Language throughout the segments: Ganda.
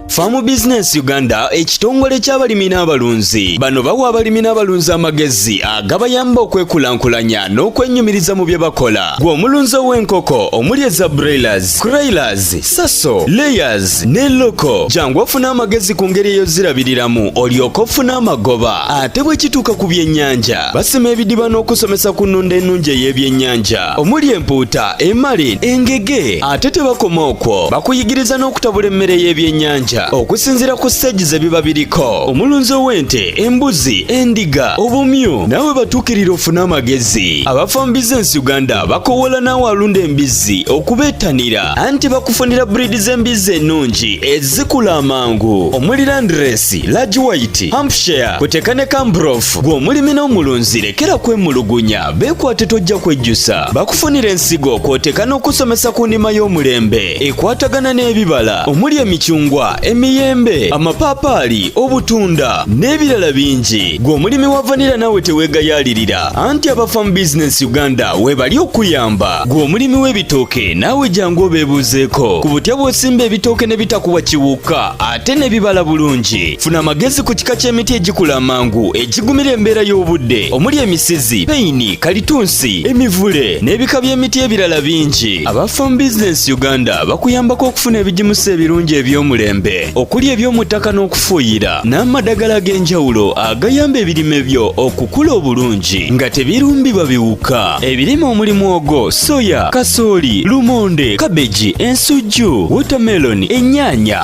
Farm Business Uganda ekitongole ky'abalimi n'abalunzi bano bawa abalimi n'abalunzi amagezi agabayamba okwekulaakulanya n'okwenyumiriza mu bye bakola gwe omulunzi ow'enkoko omuli eza broilers, croilers, saso, layers ne loko jangu ofuna amagezi ku ngeri eyozirabiriramu olyoka ofuna amagoba ate bwe kituuka ku byennyanja basima ebidiba n'okusomesa ku nnunda ennungi ey'ebyennyanja omuli empuuta emali engege ate tebakoma okwo bakuyigiriza n'okutabula emmere y'ebyennyanja okusinziira ku siteegi ze biba biriko omulunzi ow'ente embuzi endiga obumyu naawe batuukirira ofune amagezi abafa mu bizinensi uganda bakowoola naawe alunda embizzi okubeettanira anti bakufunira buriidi z'embizzi ennungi ezikula amangu omuli landiresi lagi wayiti hampshire kuteeka ne kambrof gw'omulimi n'omulunzi lekera kwemulugunya Beekwate tojja kwejjusa bakufunira ensigo kw'oteeka n'okusomesa ku nnima y'omulembe ekwatagana n'ebibala omuli emicungwa emiyembe amapaapaali obutunda n'ebirala bingi gwe omulimi wa vanira naawe teweegayaalirira anti abafamu bizinensi uganda weebali okuyamba gwe omulimi w'ebitooke naawe jangu obeebuuzeeko ku butya bw'osimba ebitooke ne bitakuwa kiwuka ate n'ebibala bulungi funa amagezi ku kika ky'emiti egikula amangu egigumira embeera y'obudde omuli emisizi peyini kalitunsi emivule n'ebika by'emiti ebirala bingi aba farm business uganda bakuyambako okufuna ebigimusa ebirungi eby'omulembe okuli eby'omu ttaka n'okufuuyira n'amadagala ag'enjawulo agayamba ebirime byo okukula obulungi nga tebirumbibwa biwuka ebirime omuli mwogo soya kasooli lumonde kabeji ensujju wotameloni ennyaanya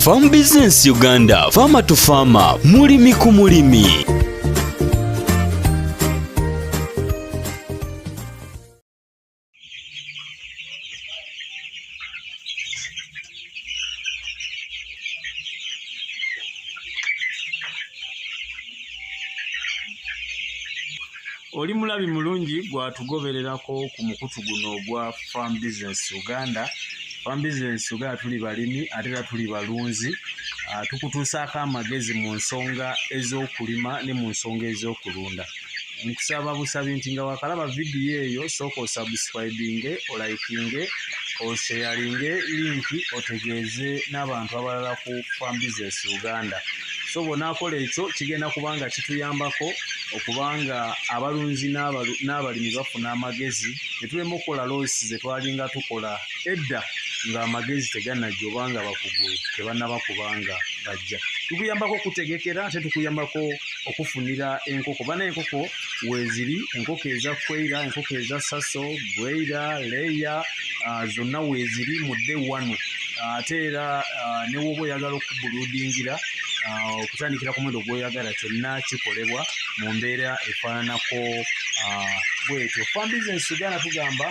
Farm Business Uganda, Farmer to Farmer, mulimi ku mulimi. oli mulabi mulungi gwatugobererako ku mukutu guno ogwa farm business uganda farm business uganda tuli balimi ate era tuli balunzi ah, tukutuusaako amagezi mu nsonga ez'okulima ne mu nsonga ez'okulunda nkusaba busabi nti nga wakalaba vidiyo eyo sooka osubscribinge olaikinge osheyalinge linki otegeeze n'abantu abalala ku farm business uganda so bwonakola ekyo kigenda kubanga kituyambako okuba nga abalunzi n'abalimi bafuna amagezi ne tulema okukola loosi ze twalinga tukola edda ng'amagezi teganajja oba nga bakugu tebanaba kubanga bajja tukuyambako okutegekera ate tukuyambako okufunira enkoko bana enkoko weeziri enkoko eza kweira enkoko eza saso bweira leeya ah, zonna weeziri mudde wano ate era ah, newooba oyagala okubuludingira ah, okutandikira ku mwendo gwoyagala kyonna kikolebwa mu mbeera efaananako ah, bwetyo fam business uganda tugamba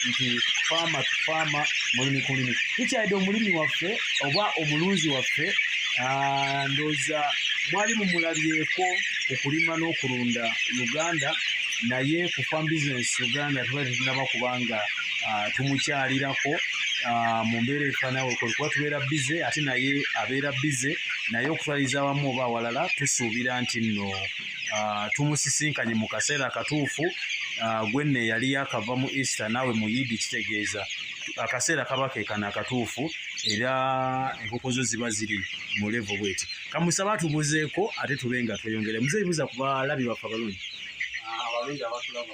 nti faama tufaama mulimi ku limi tukyalidde omulimi waffe oba omulunzi waffe ah, ndooza mwali mumulabyeko ku kulima n'okulunda uganda naye ku fam business uganda tuba tetunaba kubanga ah, tumukyalirako ah, mu mbeera efaanawo kuba tubeera bize ate naye abeera bize naye okutwaliza awamu oba awalala tusuubira nti nno ah, tumusisinkanye mu kaseera akatuufu gwenna eyali yakava mu easter naawe mu yidi kitegeeza akaseera kaba kekana akatuufu era enkoko zo ziba ziri mu levo bweti kamusaba atubuzeeko ate tube nga tweyongere muzeeyibuza ku balabi baffe abalungi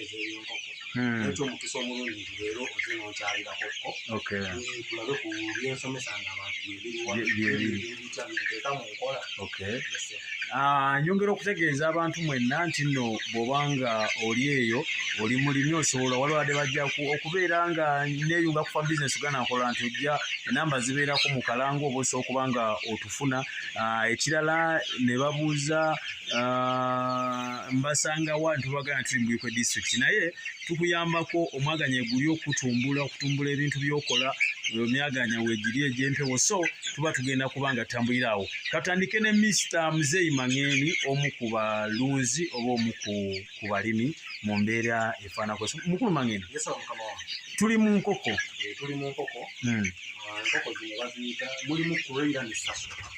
ezo ebyenkoko hmm. naye kyomukisa omulungi nti leero oze nonkyalirako ko tulabe ku byensomesa nga abantu byebiriwabitya biteeka mu nkola ah, nyongera okutegeeza abantu mwenna nti nno bwoba nga oli eyo oli mulimi osobola walwade bajja okubeera nga neyunga kufa bizinesi uganda nkola nti ojja enamba zibeerako mu kalanga oba osobola okuba nga otufuna ah, ekirala ne babuuza ah, mbasanga wa ntubagana nti mbuyikwe district naye tukuyambako omwaganya eguli okutumbula okutumbula ebintu byokola emyaganya wegiri egyempewo so tuba tugenda kuba nga tambulira awo katandike ne mister muzeyi mangeni omu ku balunzi oba omu ku balimi mu mbeera efaanako mukulu mangeni tuli mu nkoko eh, tuli mu nkoko hmm. ah, nkoko zino baziyita mulimu kureira ne sasa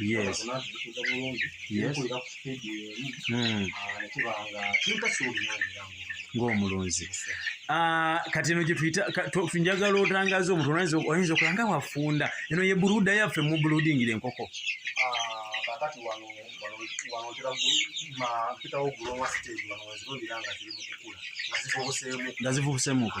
yes yes mm. ng'omulunzi ah, kati eno gyetuyitafunjagala otangaza omuntu oyinza okuba nga wafunda eno ye buluda yaffe mu buludingira enkoko kakati ah, wano wanontera mpitawo gulowa siteegi wano wezirundira nga ziri mukukula nga zivubusemuko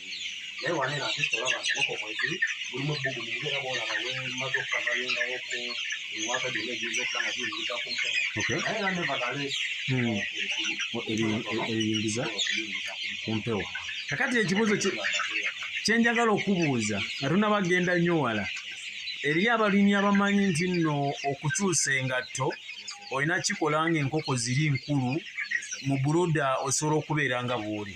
naye wanera nsisi olaba nti boko mwezi mulimu ebbugumu nge era boolaba wemaze okukavayo nga woko ewaka gyonna egiyinza okuba nga biyingiza ku mpono Okay. naye era nevertheless Hmm. O- ebi- e- ebiyingiza ku mpewo kakati ekibuuzo kye- kye njagala okubuuza nga tunabagenda nnyo wala eriyo abalimi abamanyi nti nno okukyusa engatto olina kikola ng'enkoko ziri nkulu mu buluda osobola okubeera nga bw'oli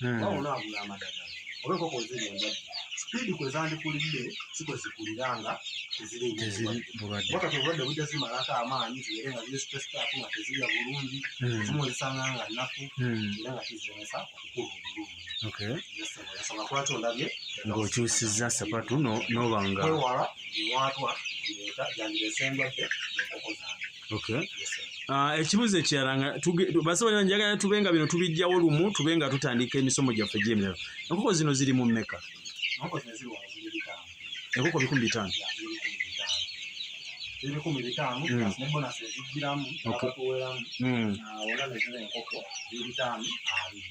hmm. waba onaagula amadagala oba enkoko eziri endwadde sipiidi kwe zandikulidde siko zikulira nga teziriwakatobulwadde bujja zimalako amaanyi zibeere nga ziri sipesitaaku nga tezirya bulungi hmm. zimu ozisanga nga nnafu hmm. era nga kiziremesa okukula obulungi yasaba kwaki ondabye ng'okyusizza sapatu n'obanga kwewala biwaatwa bireeta gyandireese endwadde enkoko zange okay ah, ekibuzo ekirala nga basobola njagala tube nga bino tubijjawo lumu tube nga tutandika emisomo gyaffe gyemiro enkoko zino ziri mu mmeka enkoko bikumi bitaano ebikumi bitaano mm. ne bonasi ezijjiramu abatuweramu mm. ah, wona nezina enkoko ebitaano abiri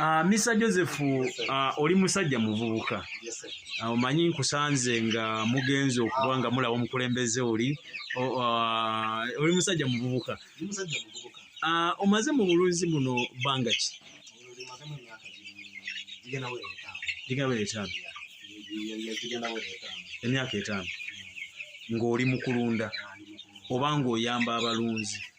Uh, ah, Mr. Joseph uh, oli musajja muvubuka ah, omanyi uh, nkusanze nga mugenzi okuba nga mulaba omukulembeze oli uh, oli musajja muvubuka uh, omaze mu bulunzi buno bbanga ki ligabera etaano emyaka etaano ng'oli mu kulunda oba ng'oyamba abalunzi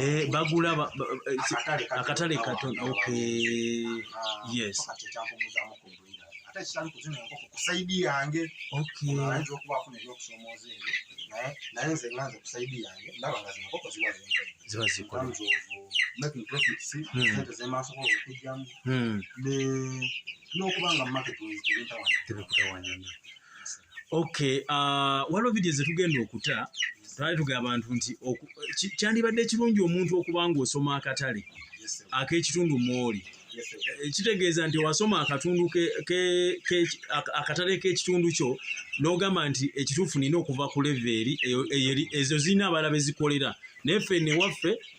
Eh, bagula eh, akatale katono ok yes ziba zikola n'okuba nga market tebikutawanyana okay uh, waliwo vidiyo zetugenda okuta twali tugamba abantu nti kyandibadde ekirungi omuntu okuba nga osoma akatale ak'ekitundu mwoli eh, kitegeeza nti wasoma akatundu akatale k'ekitundu kyo n'ogamba nti ekituufu nina okuva ku leveeri ezo zirina abala bezikolera naye ffe newaffe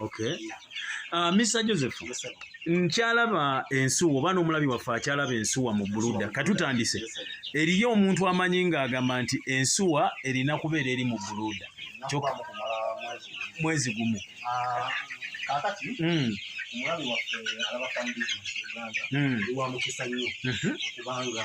okay uh, Mr Joseph nkyalaba ensuwa oba n'omulabi waffe akyalaba ensuwa mu buluda katutandise eriyo omuntu amanyi ng'agamba nti ensuwa erina kubeera eri mu buluda kyoka mwezi gumu ah, kakati hmm. omulabi waffe alaba famili uganda hmm. wa mukisa nnyo mhm. kubanga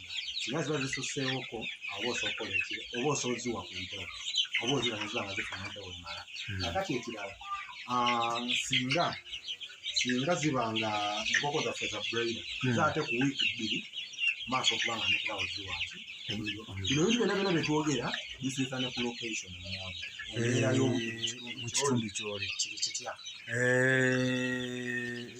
singa ziba zisusseewoko oba osookola ekiro oba osooziwa ku mpewo oba oziba neziba nga zifuna empewo emala hmm. akati ekirala ah, singa singa ziba nga enkoko zaffe za braida hmm. zaate ku wiiki bbiri maaso okuba nga nekirawo ziwansi bino bintu byona byona byetwogera bisiisa ne ku location embeera eh, y'omukitundu kyoli kiri kitya eh,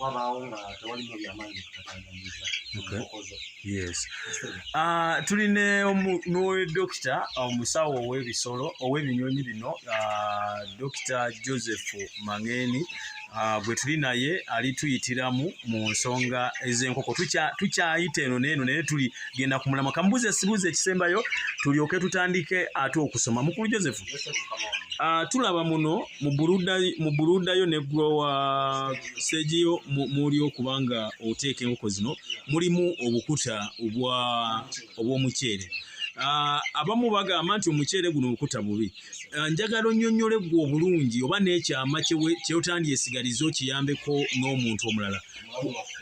wabaawo nga tewalino byamaanyi bikutatanganyiza okozo yes ah, tuli ne dokita ah, omusawo ow'ebisolo ow'ebinyonyi bino ah, dokita joseph mangeni Ah, bwe tuli naye ali tuyitiramu mu nsonga ez'enkoko tukyayita eno neeno naye tuli genda ku mulamwa kamubuuze sibuuza ekisembayo tulyoke tutandike ate okusoma mukulu joseph uh, tulaba muno mu buludayo ne growa segiyo muli okuba nga oteeka enkoko zino mulimu obukuta obw'omuceere uh, abamu bagamba nti omuceere guno obukuta bubi Eh, njagala onyonyole gwe obulungi oba n'ekyama kyotandyesigaliza okiyambeko n'omuntu omulala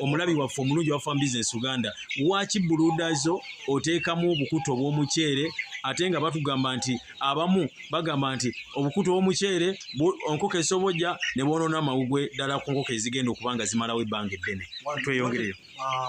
omulabi waffe omulungi wafa mu business uganda waki buludazo oteekamu obukuta obw'omuceere ate nga batugamba nti abamu bagamba nti obukuta obw'omuceere onkoko esobojja ne bwonoona amawugwe ddala ku nkoko ezigenda okuba nga zimalawo ebbanga eddene tweyongereyo ah,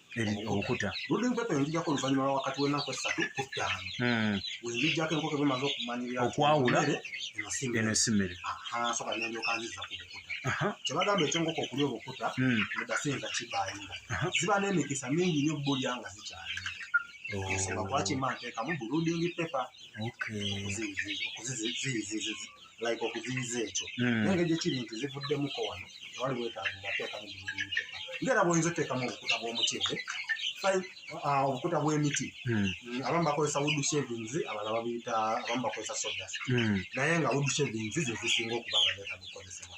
okuta ludde mpepe njijako oluvannyuma lwa wakati w'ennaku essatu ku ttaano hmm. wenjijjako enkoko bwemaze okumanyirira okwawula eno simere soka nendyoka nziza ku bukuta kyebagamba ekyenkoko okulya obukuta hmm. mudase nga kibayinga ziba n'emikisa mingi nyo bulya nga zikyali oh. ensonga lwaki manteekamu buludingi pepa okuzizizizizi like okuziyiza ekyo hmm. naye ngeri gyekiri nti zivuddemuko wano tewali bwetaavu ngateekamu bibiteeka ngaera bwoyinza oteekamu obukuta bw'omutyere uh, obukuta bw'emiti hmm. mm, abamu bakozesa wood shavings abalala babiyita abamu bakozesa sodas hmm. naye nga wood shavings zezisinga okuba nga zeetaaga okukozesebwa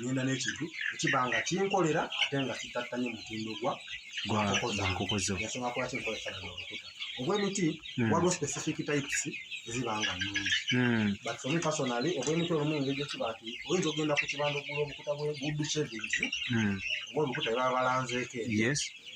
ngenda n'ekintu ekiba nga kinkolera ate nga kitattanye mutindo gwa gwankoko zo ensonga lwaki nkola ekifaananyi obukuta obw'emiti hmm. waliwo specific types eziba nga nnungi hmm. but for me personally obw'emiti olumu engeri gyekiba nti oyinza okugenda ku kibanda okugula obukuta bwe good savings hmm. oba obukuta bebaba balanzeeko yes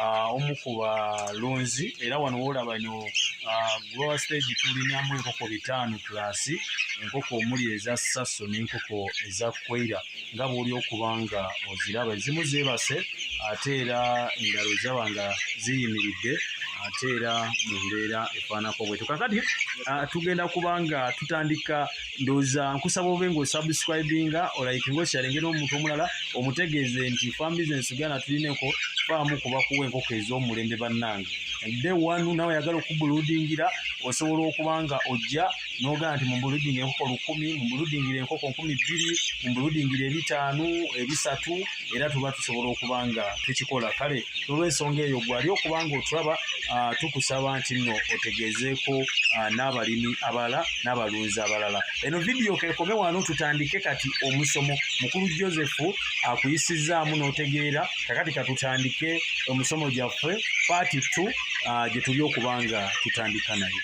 uh, omu ku balunzi era wano wolaba ino uh, grower stage tulinamu enkoko bitaano plus enkoko omuli eza saso n'enkoko eza kweira nga bwoli okuba nga oziraba ezimu zebase ate era endalo zaba nga ziyimiridde ate era mu mbeera efaanako bwetu kakati uh, tugenda kuba nga tutandika ndoza nkusaba obe ngo subscribing or like ngo share ngeno omuntu omulala omutegeeze nti farm business gana tulineko faamu kuba kuwe enkoko ez'omulembe bannange de wanu nawe yagala okubuludingira osobola okuba nga ojja nogaa nti mumbuludingira enkoko lukumi mumbuludingira enkoko nkumi bbiri mumbuludingira ebitaano ebisatu era tuba tusobola okuba nga tukikola kale olw'ensonga eyo gwali okuba nga otulaba tukusaba nti nno otegeezeeko n'abalimi abalala n'abalunzi abalala eno vidiyo kekome wano tutandike kati omusomo mukulu josefu akuyisizzaamu n'otegeera kakati katutandike omusomo gyaffe paati t gye tuli okuba nga tutandika nayo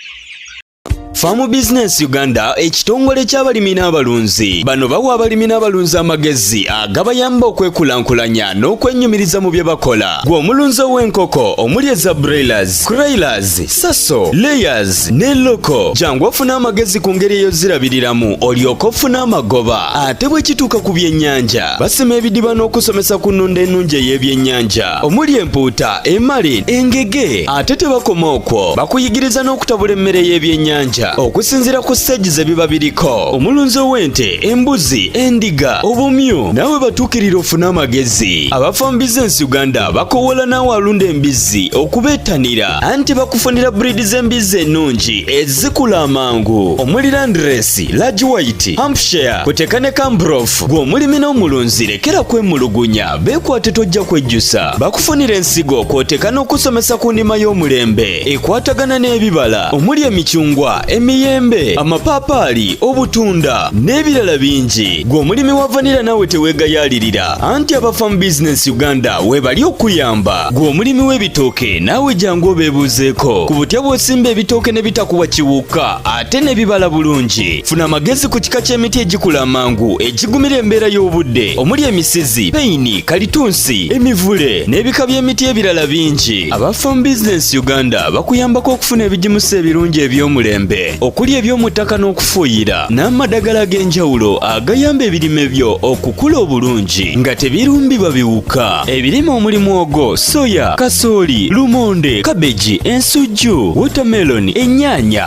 Farm Business Uganda ekitongole ky'abalimi n'abalunzi bano bawa abalimi n'abalunzi amagezi agabayamba okwekulaakulanya n'okwennyumiriza mu bye bakola gwe omulunzi ow'enkoko omuli eza broilers, croilers, saso, layers ne loko jangu ofune amagezi ku ngeri eyozirabiriramu olyoka ofuna amagoba ate bwe kituuka ku byennyanja basima ebidiba n'okusomesa ku nnunda ennungi ey'ebyennyanja omuli empuuta emali engege ate tebakoma okwo bakuyigiriza n'okutabula emmere y'ebyennyanja okusinziira ku siteegi ze biba biriko omulunzi ow'ente embuzi endiga obumyu naawe batuukirira ofune amagezi abafa mu bizinensi uganda bakowoola naawe alunda embizzi okubeettanira anti bakufunira buriidi z'embizzi ennungi ezikula amangu omuli landiresi lagi wayiti hampshire kuteeka ne kambrof gw'omulimi n'omulunzi lekera kwemulugunya Beekwate tojja kwejjusa bakufunira ensigo kw'oteeka n'okusomesa ku ndima y'omulembe ekwatagana n'ebibala omuli emicungwa emiyembe amapaapaali obutunda n'ebirala bingi gwe omulimi wa vanira naawe teweegayaalirira anti aba farm business uganda weebali okuyamba gwe omulimi w'ebitooke naawe jangu obeebuuzeeko ku butya bw'osimba ebitooke ne bitakuwa kiwuka ate ne bibala bulungi funa amagezi ku kika ky'emiti egikula amangu egigumira embeera y'obudde omuli emisizi peyini kalitunsi emivule n'ebika by'emiti ebirala bingi aba farm business uganda bakuyambako okufuna ebigimusa ebirungi eby'omulembe okuli eby'omu ttaka n'okufuuyira n'amadagala ag'enjawulo agayamba ebirime byo okukula obulungi nga tebirumbibwa biwuka ebirime omuli mwogo soya kasooli lumonde kabeji ensujju wotameloni ennyaanya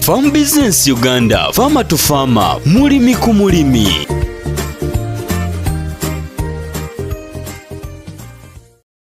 Farm Business Uganda, Farmer to Farmer, mulimi ku mulimi.